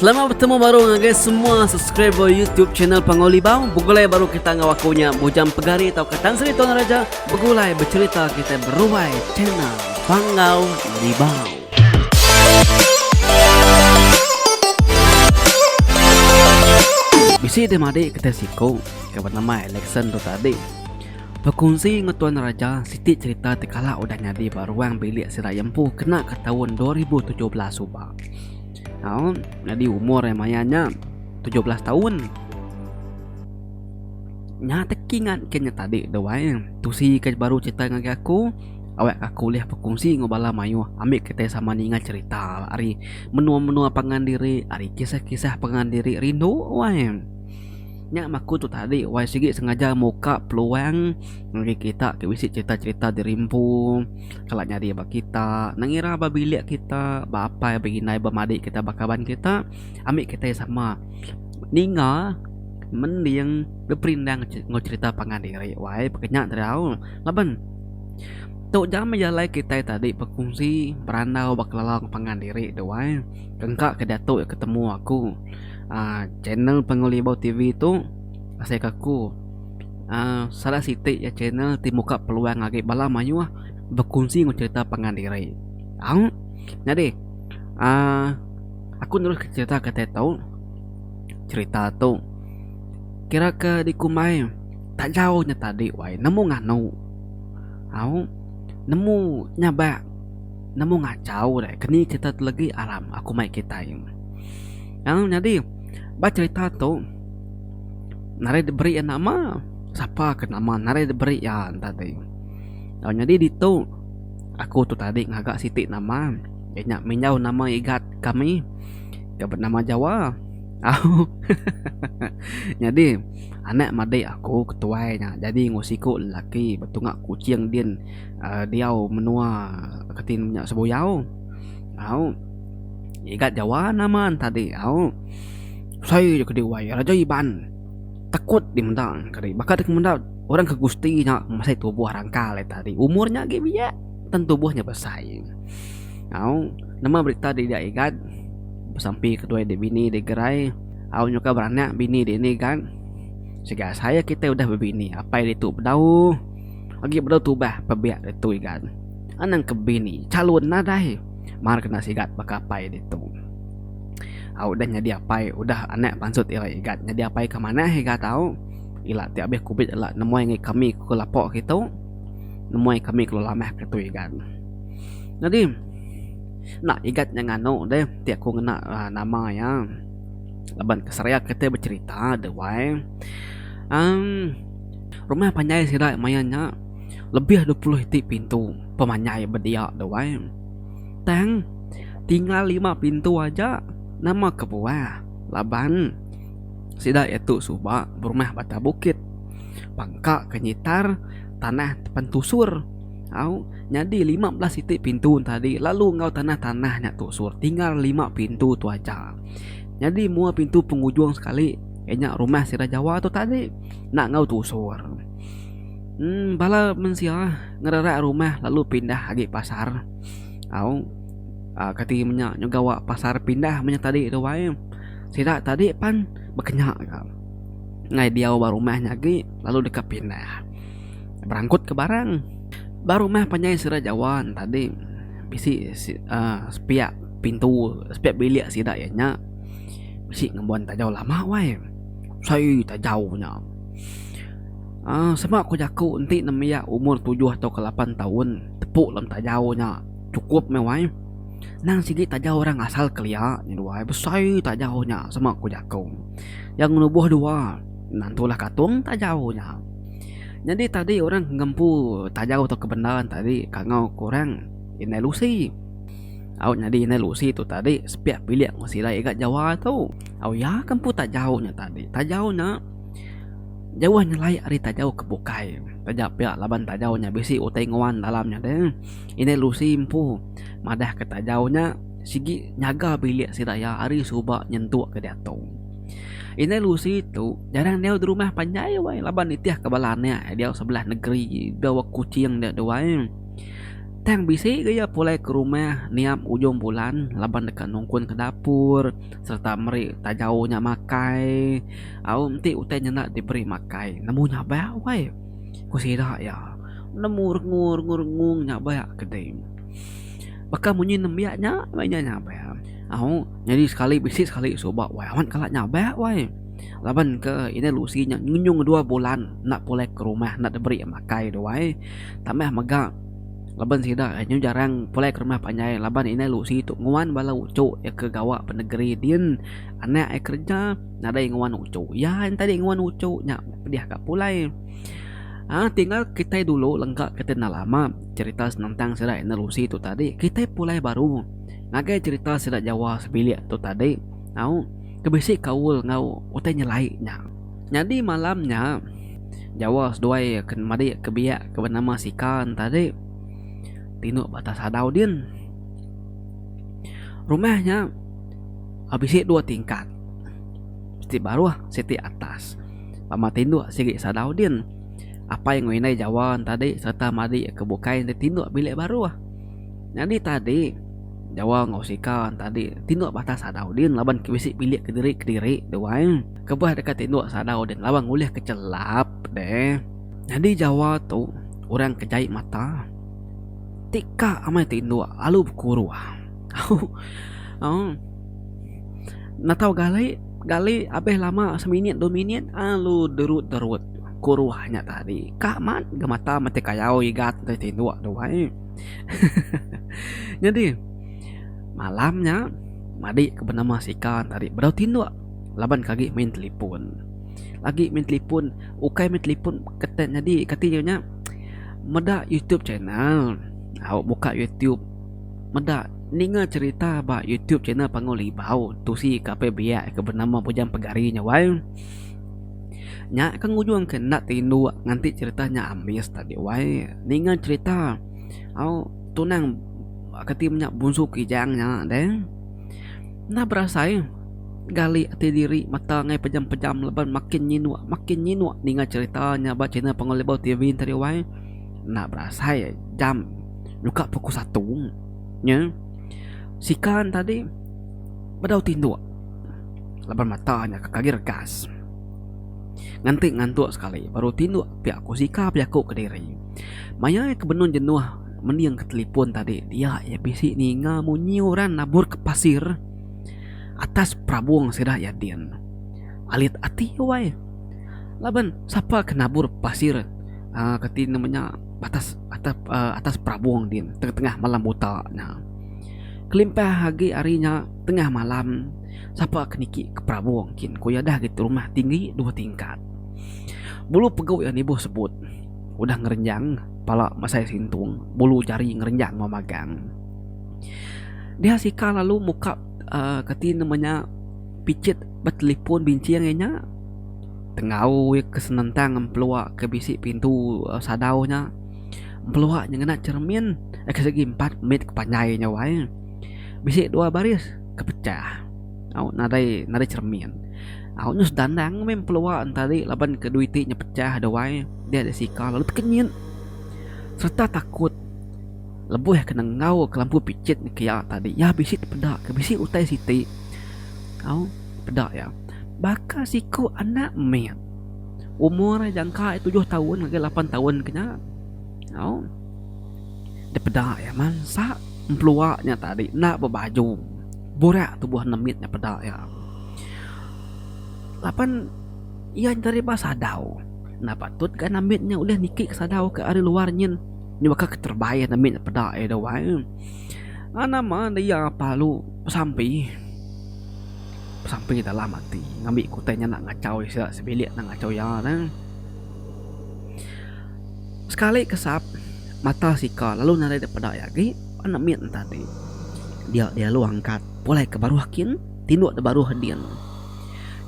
Selamat betemu baru ngagai semua subscriber YouTube channel Panggau Libau. Begulai baru kita enggau aku nya Bujang Pegari tauka Tan Sri Tuan Raja begulai becerita kita beruai channel Panggau Libau. Bisi dia madi kita siku ke bernama Alexan tu tadi. Berkunsi dengan Tuan Raja siti cerita tekala udah nyadi ba ruang bilik si Rayempu kena ke tahun 2017 ubah. Au, jadi umur yang maya nya 17 taun. Nya teki ngat ke nya tadi dah wai. Tusi ke baru cerita ngagai aku, awak aku ulih berkongsi enggau bala mayuh ambi kitai sama ninga cerita ari menua-menua pangan diri, ari kisah-kisah pangan diri rindu wai. Nya mah aku tu tadi wai sigi sengaja muka peluang ngagai kita ke bisi cerita-cerita diri empu. kala nyadi ba kita ngira ba bilik kita ba apai ba indai ba madik kita ba kaban kita ami kita iya sama ninga mending beperindang enggau cherita pangan diri wai peka nya tau dau laban tu ja meh jalai kita tadi berkongsi berandau ba kelala pangan diri tu ai engka ke diatu ke temu aku uhh channel pengelibau tv tu asai ke aku. uhh salah siti iya channel ti muka peluang agi bala mayuh bekunsi enggau crita pangan diri au nyadi uhh aku neruskan crita kitai tu crita tu kira ke dikumbai tak jauh nya tadi wai nemu nganu au nemu nyabak nemu ngachau deh keni crita tu legi aram aku mai kitai au nyadi ba crita tu. narai diberi iya nama sapa ke nama narai diberi iya enta ti tau nyadi ditu aku tu tadi ngaga siti nama iya nya menyau nama igat kami ke benama jawa au nyadi anak madik aku ke tuai nya jadi enggau siku lelaki betunga kuching din uhh diau menua ke ti nya sebuyau au igat jawa nama enta ti au. Usai ja ke deh wai Raja Iban takut di meda ka deh baka deh meda orang ke gusti nya masih tubuh rangkal ita deh umur nya agi biak tang tubuh nya besai au nama berita di dia igan besampi ke dua deh bini deh gerai au nyuka beranak bini deh ni gan siga asai ya kitai udah bebini apai ditu bedau agi bedau tubah pebia ditu igan anang ke bini calon nadai mar kena sigat baka apai ditu. au udah nyadi apai udah anak pansut ira igat nyadi apai ke manah iga tau ila ti abih kubit ila nemoi ngi kami ku lepo ke tu nemoi kami kelu lamah ke tu igat nyadi enda igat nya nganu deh ti aku ngena um nama iya laban ke seria kita becerita deh wai um rumah panjai sida maya nya lebih dua puluh iti pintu pemanjai bedia deh wai Tang, tinggal lima pintu aja nama kebuah laban sida iya tu suba berumah bata bukit, pangka ke nyitar tanah depan tusur. Au, nyadi lima belas siti pintu tadi lalu enggau tanah-tanah nya tusur tinggal lima pintu tu aja. Nyadi mua pintu pengujung sekali iya nya rumah sida Jawa tu tadi enda enggau tusur. Em bala mensia ngererak rumah lalu pindah agi pasar. Au aa kati menya nyau gawa pasar pindah menya tadi tu wai sida tadi pan bekenya ka ngai diau ba rumah nya agi lalu deka pindah berangkut ka barang ba rumah panjai sida jawa ne tadi bisi aa sepiak pintu sepiak bilik sida iya nya bisi ngembuan tajau lama wai sai tajau nya aa sema ku jaku enti ne maya umur tujuh tauka lapan taun. tepu lem tajau nya cukup meh wai nang sigi tajau orang asal kelia nya dua ai besai tajau nya sema ku jaku yang ngelubuh dua nan tulah katung tajau nya nyadi tadi orang ngempu tajau tu ke bendar ne tadi kan ngau ku orang inai lusi au nyadi inai lusi tu tadi sepiak bilik meh silai ga jawa tu au iya ke empu tajau nya tadi tajau nya. Jauh nyelai ari tajau ke bukai. Taja pia laban tajau nya bisi utai nguan dalam nya deh. Indai Lucy empu madah ke tajau nya sigi nyaga bilik sida iya ari suba nyentuk ke diatu. Indai Lucy tu jarang diau di rumah panjai wai laban nitih ke bala anak iya diau sebelah negeri da ba Kuching nya tu wai. Tang bisi ke iya pulai ke rumah niap ujung bulan laban deka nungkun ke dapur sereta meri tajau nya makai au enti utai nyenda diberi makai nemu nya ba wai ku sida iya nemu rengu rengu rengu nya ba ke dei baka munyi nembiak nya meh inya nya ba au nyadi sekali bisi sekali suba wai amat kala nya ba wai laban ke inai lusi nya ngenyung dua bulan enda pulai ke rumah enda diberi makai duai tambah mega. Laban sida nyu jarang pulai ke rumah panjai laban indai lu si tu nguan bala uchu iya ke gawa ba negeri din anak iya kereja nadai nguan uchu iya enti agi nguan uchu nya pedih ka pulai aaa tinggal kitai dulu lengka kitai enda lama cerita senentang sida indai lu si tu tadi kitai pulai baru ngagai cerita sida jawa sebilik tu tadi au ke bisi kaul enggau utai nyelai nya. Nyadi malam nya, Jawa seduai ke madik ke biak ke benama Sika entadi tinduk ba atas adau din. Rumah nya bisi dua tingkat. Siti baruh, siti atas. Bama tinduk sigi sadau din. Apai enggau indai Jawa entadi sereta madik ke bukai enti tinduk bilik baruh. Nyadi tadi, Jawa enggau Sika entadi tinduk ba atas adau din laban ke bisi bilik kediri-kediri duai. Kebuah deka tinduk sadau deh laban ngulih ke chelap deh. Nyadi Jawa tu orang ke jai mata ti ka amai tinduk lalu bekuruh. Au. Natau gali gali abih lama seminit dua minit alu derut derut kuruh nya tadi ka mat ga mata mati kayau igat deh tinduk tu ai. Nyadi malam nya madi ke benama sika tadi bedau tinduk. laban ke agi main telefon agi main telefon ukai main telefon ketai nyadi kati inya nya meda youtube channel au buka youtube meda ninga cherita ba youtube channel panggau libau tusi ka apai biak ke benama bujang pegari nya wai nya ke ngujung ke enda tinduk nganti cherita nya ambis tadi wai ninga cherita au tunang kati inya bunsu kijang nya deh. Enda berasai gali ati diri mata angai pejam-pejam laban makin nyinuk makin nyinuk ninga cherita nya ba channel Panggau Libau TV nteri wai. Enda berasai jam nyukak pukul satu nya sikan tadi bedau tinduk laban mata nya ke kagi regas nganti ngantuk sekali baru tinduk pia ku sika bejaku kediri. Maya ke benung jenuh. Mending ke telefon tadi dia iya bisi ninga munyi orang nabur ke pasir atas perabung sida iya din. Alit ati wai. Laban sapa ke nabur pasir uhh kati nama nya atas atas uhh atas perabung din tengah tengah malam buta nya. Kelimpah agi ari nya tengah malam sapa ke niki ke perabung kin ku iya deh agi rumah tinggi dua tingkat. Bulu pegu iya nibuh sebut. udah ngerenjang pala mesai sintung bulu jari ngerenjang enggau magang. Dia sika lalu muka uhh kati nama nya pichit betelipon binching inya tengau ke senentang empelua ke bisi pintu sadau nya empelua nya ngena cermin agi segi empat mit ke panjai nya wai bisi dua baris ke pecah. Au nadai nadai cermin. Au nyus dandang meh pelua entari laban ke dui ti nyepechah da wai dia da sika lalu tekenyit sereta takut lebuh ke nenggau ke lampu pichit ne kiya tadi iya bisi tepeda ke bisi utai siti au peda iya. Baka siku anak mit umur iya jangka iya tujuh taun ngagai lapan taun ke nya au dipeda iya mansa empelua nya tadi enda bebaju. Burak tubuh nemit nya peda iya. Laban iya nyengeri ba sadau. Enda patut ga nemit nya ulih niki ke sadau ke ari luar nyin nyuaka ke terebai nemit nya peda iya dau ai. Ai nama ne iya palu besampi. Besampi dalam ati ngambi ke utai nya enda ngachau iya sida sebilik enda ngachau iya ne. Sekali kesap mata sika lalu nadai dipeda iya agi. Anak mit entadi. Dia dialu angkat pulai ke baruh kin tinduk da baruh din.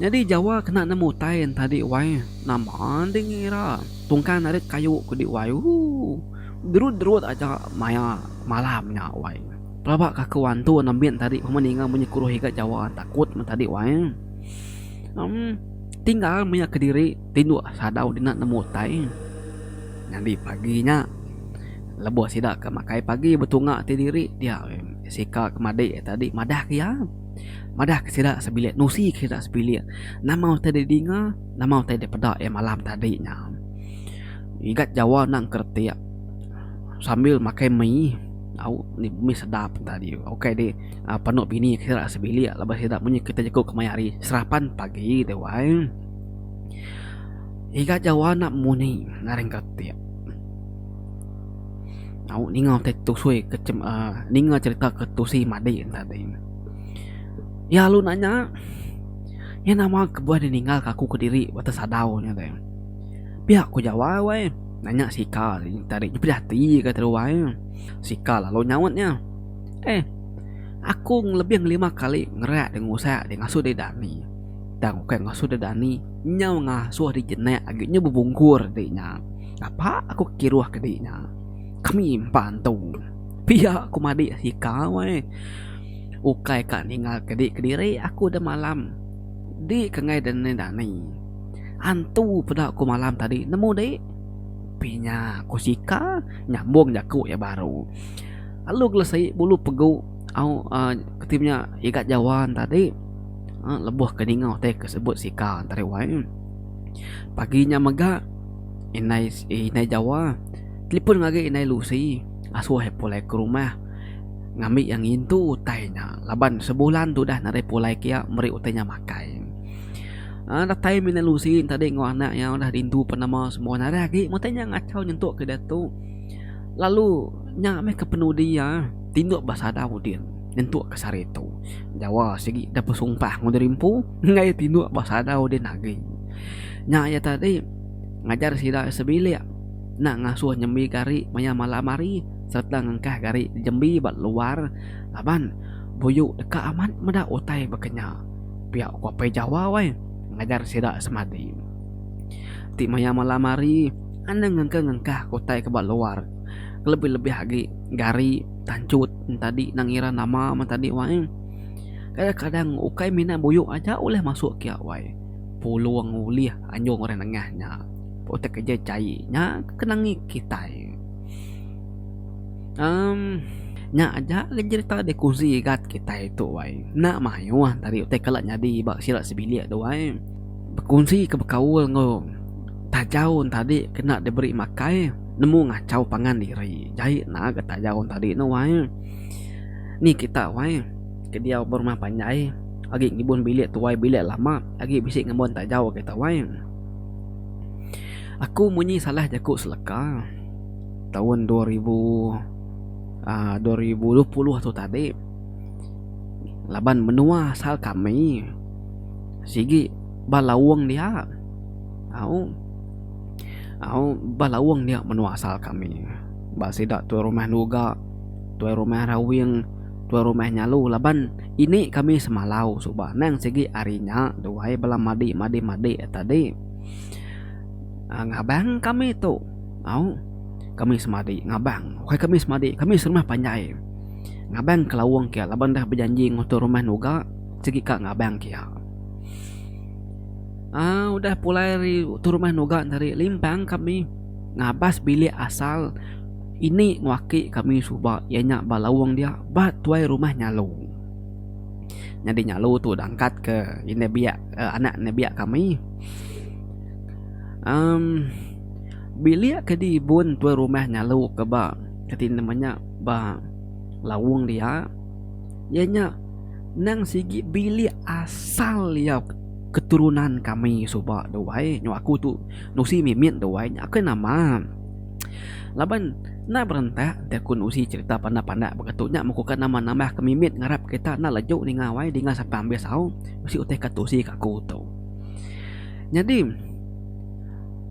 Nyadi jawa kena nemu utai entadi wai nama ding ira tungkang narit kayu ku di wai ooh derut derut aja maya malam nya wai pelaba ka aku antu anak mit entadi pemeh ninga munyi kuruh iga jawa takut meh tadi wai em tinggal maya kediri tinduk sadau dina nemu utai nyadi pagi nya. Lebuh sida ke makai pagi betunga ti diri dia Sika ke madi tadi madah ke iya. Madah ke sida sebilik nusi ke sida sebilik nama utai dek dinga nama utai dek peda iya malam tadi nya. Ngigat jawa enda engke retik sambil makai mi au nya mi sedap enta diu ukai dek panu bini ke sida sebilik laban sida munyi kita jeku ke maya hari serapan pagi te wai. Ngigat jawa enda mung ni ngaran engke retik. Au ninga ke tusui ke chem uhh ninga cherita ke tusi madik ne tadi. Iya alu nak nya iya nama kebuah deh ninga ke aku kediri ba atas sadau nya deh. Pia ku jawai weh nak nya sika tadi nya pejah ati ka tadi wai ne. Sika lalu nyaut nya eh aku lebih ngelima kali ngerak deh ngusak deh ngasuh deh dani tang ukai ngasuh deh dani nyau ngasuh deh jenak agi nya bebungkur agi nya. Napa aku ke kiruh ke di nya? Kami empa entu. Pia ku madik sikau ai. Ukai ka ninga ke di kediri aku da malam. Di ke enggai da neni dani. Antu peda ku malam tadi nemu di? Pinya ku sika nyambung jaku iya baru. Lalu gelesi bulu pegu au uhh ti nya iga jawa ne tadi uhh lebuh ke ninga utai ke sebut sika tadi wai. Pagi nya mega. Inai inai jawa telefon ngagi inai lusi asuh iya pulai ke rumah ngambi iya ngintu utai nya laban sebulan tu udah nadai pulai ke iya meri utai nya makai aaa datai meh inai lusi enti ade enggau anak iya udah rindu pen nama semua nadai agi utai nya ngachau nyentuk ke diatu lalu nya meh ke penudi iya tinduk ba sada udin nyentuk ke sehari tu jawa sigi deh besumpah ngemudi rimpu enggai tinduk ba sada udin agi. Nya iya tadi ngajar sida sebilik enda ngasuh nyembi gari maya malam hari sereta ngengkah gari jembi ba luar laban buyu deka amat meda utai baka nya. Pia ku Apai Jawa weh ngajar sida semadi. Ti maya malam hari anang ngengka ngengkah ke utai ke ba luar kelebih-lebih agi gari tanchut tadi enda ngira nama men tadi wai. Kadang-kadang ukai mina buyu aja ulih masuk kia wai. pulung ulih anjung orang nengah nya utai keja chai nya kena ngi kitai um nya aja le jerita dikongsi gat kitai tu ai enda mayuh enda ari utai kala nyadi ba sida sebilik tu ai bekusi ke bekaul enggau tajau enta adi kena diberi makai nemu ngachau pangan diri jai naga tajau enta adi ne wai ni kita wai. Ke diau berumah panjai agi ngibun bilik tuai bilik lama agi bisi ngembun tajau agi tuai. Aku munyi salah jaku seleka taun dua ribu aaa dua ribu dua puluh tu tadi laban menua asal kami sigi ba laung dia au au ba laung dia menua asal kami ba sida tuai rumah nuga tuai rumah rawing. tuan rumah nyalu laban ini kami semalau suba nang sigi ari nya duai bala madi madi madi tadi uhh ngabang kami tu au kami semadi ngabang bukai kami semadi kami serumah panjai ngabang ke lawong ke laban dah bejanji ngan tuan rumah nuga sigi ka ngabang ke iya uhh udah pulai ari tuan rumah nuga tadi limpang kami ngabas bilik asal. Ini nguaki kami suba iya nya ba Lawong dia ba tuai rumah Nyalu. Nyadi Nyalu tu dah angkat ke indai biak uhh anak indai biak kami. Uhh bilik ke dibun tuai rumah Nyalu ke ba kati nama nya ba Lawong dia iya nya nang sigi bilik asal iya keturunan kami suba duai nyau aku tu nusi mimit duai nya aku nama. Laban enda berentak enti aku nusi cherita pandak-pandak baka tu nya muka ke nama nambah ke mimit ngarap kita enda leju ninga wai dinga sapa ambis au bisi utih ka tusi ka aku tu. Nyadi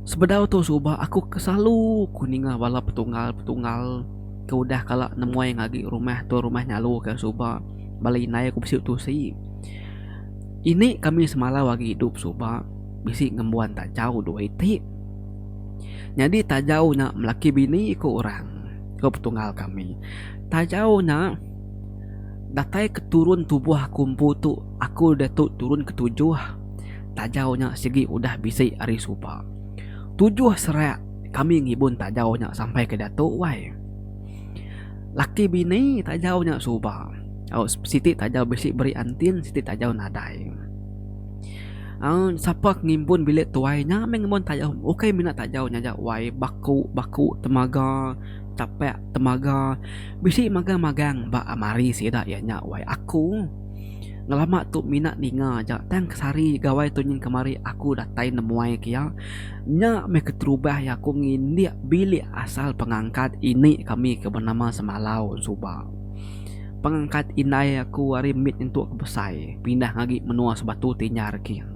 sebedau tu suba aku ke selalu ku ninga bala petunggal-petunggal ke udah kala nemuai ngagi rumah tu rumah nyalu ke suba bala indai ku bisi tusi. Ini kami semalau agi idup suba bisi ngembuan tajau duai ti. Nyadi tajau nya belaki bini iku orang ko petunggal kami tajau nya datai ke turun tubuh aku empu tu aku diatu turun ke tujuh tajau nya sigi udah bisi ari suba tujuh serak kami ngibun tajau nya sampai ke diatu wai laki bini tajau nya suba au siti tajau bisi beri antin siti tajau nadai. Aun sapa ke ngimbun bilik tuai nya meh ngimbun tayau ukai mina tayau nyaja wai baku baku temaga tapak temaga bisi magang magang ba almari sida iya nya wai aku ngelama tu mina ninga aja tang ke sehari gawai tu nyin kemari aku datai nemuai ke iya nya meh keterubah iya aku ngindik bilik asal pengangkat ini kami ke benama semalau suba. Pengangkat indai aku ari mit nyentuk ke besai pindah ngagi menua Sebatu ti nyar king.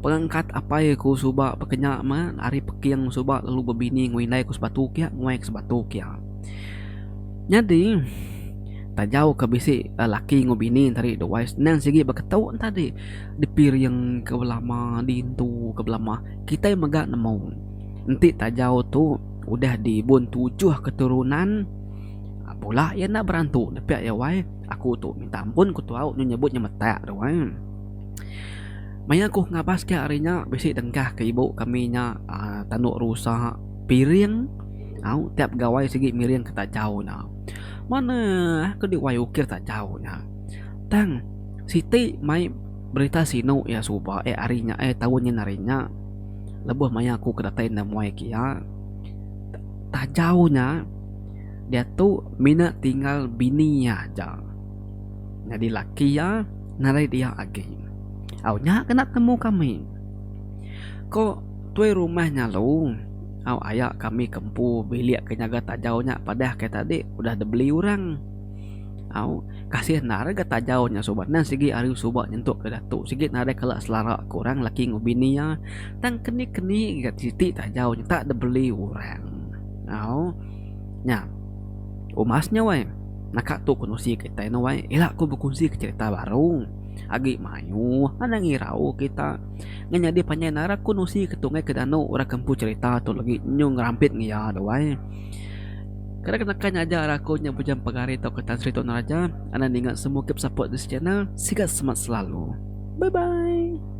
Pengangkat apai aku suba bekenya meh ari Peking suba lalu bebini enggau indai ku Sebatu kia nguai ke Sebatu kia. Nyadi tajau ke bisi laki enggau bini enti ari dua senang sigi beketu enti ari dipiring ke belama dintu ke belama kitai mega nemu enti tajau tu udah dibun tujuh keturunan. Pula iya enda berantu nepiak iya wai. Aku tu minta ampun ku tuau nyu nyebut nyemetak tu wai. Maya aku ngabas ka ari nya bisi dengkah ke ibu kami nya aaa tanduk rusa piring au tiap gawai sigi miring ke tajau nya. Manah keli wai ukir tajau nya. Tang siti mai berita sinu iya suba eh ari nya eh taun nyin ari nya lebuh maya aku ke datai enda muai ke iya. Tajau nya. Diatu mina tinggal bini iya aja. Nyadi laki iya narit iya agi. Au nya kena temu kami. Ko tuai rumah nya lu, au aya kami ke empu bilik ke nyaga tajau nya padah ke tadi udah dibeli orang. Au kasih enda re ga tajau nya suba nan sigi ari suba nyentuk ke diatu sigi nadai kala selara ke orang laki enggau bini iya tang keni-keni ga siti tajau nya tak dibeli orang. Au. Nya. Umas nya weh. Naka tu ku nusi kitai ne weh. Ila ku bekunsi ke cerita baru. Agi mayuh anang irau kita. Ngan nyadi panjai narak ku nusi ke tunggai ke danu orang ke empu cerita tu legi nyu ngerampit ngi iya tu weh. Kada ke naka nyaja aku nya bujang pegari tauka Tan Sri Tun Raja. Anang ninga semua ke besaput this channel. Sigat semat selalu. Bye bye.